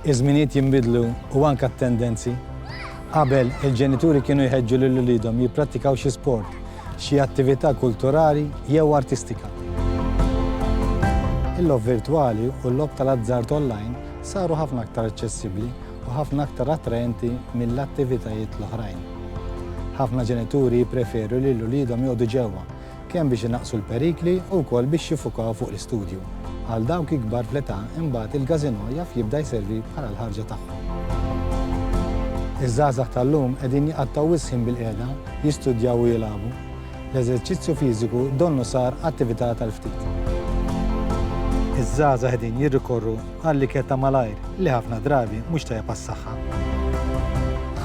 Iż-żminijiet jinbidlu u anke t-tendenzi. Qabel, il-ġenituri kienu jħeġġu lil uliedhom jipprattikaw xi sport, xi attività kulturali jew artistika. Il-logħob virtwali u l-logħob tal-azzard online saru ħafna aktar aċċessibbli u ħafna aktar attraenti mill-attivitajiet l-oħrajn. Ħafna ġenituri jippreferu lil uliedhom joqogħdu ġewwa kemm biex inaqqsu l-perikli u wkoll biex jiffukaw fuq l-istudju. Għal dawk ikbar fl-età imbagħad il-każinò jaf jibda jservi bħala l-ħarġa tagħhom. Iż-żgħażagħ tal-lum qegħdin jqattgħu wisq ħin bilqiegħda, jistudjaw u jilagħbu. L-eżerċizzju fiżiku donnu sar attività tal-ftit. Iż-żgħażagħ qegħdin jirrikorru għall-ikel ta' malajr li ħafna drabi mhux tajjeb għas-saħħa.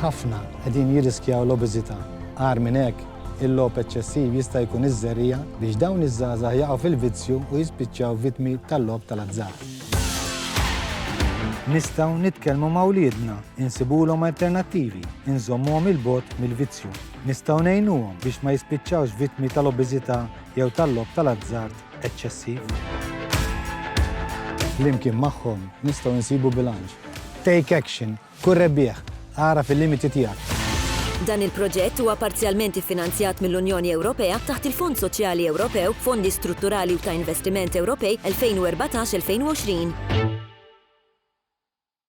Ħafna qegħdin jirriskjaw l-obeżità. Agħar minn hekk, Il-logħob eċċessiv jista' jkun iż-żerriegħa biex dawn iż-żgħażagħ jaqgħu fil-vizzju u jispiċċaw vittmi tal-logħob tal-azzard. Nistgħu nitkellmu ma' wliedna, insibulhom alternattivi, inżommuhom 'il bogħod mill-vizzju. Nistgħu ngħinuhom biex ma jispiċċawx vittmi tal-obeżità jew tal-logħob tal-azzard eċċessiv. Flimkien magħhom nistgħu nsibu bilanċ. Take Action Kun rebbieħ! Agħraf il-limiti tiegħek! Dan il-proġett huwa parzjalment iffinanzjat mill-Unjoni Ewropea taħt il-Fond Soċjali Ewropew, Fondi Strutturali u ta' Investiment Ewropej 2014-2020.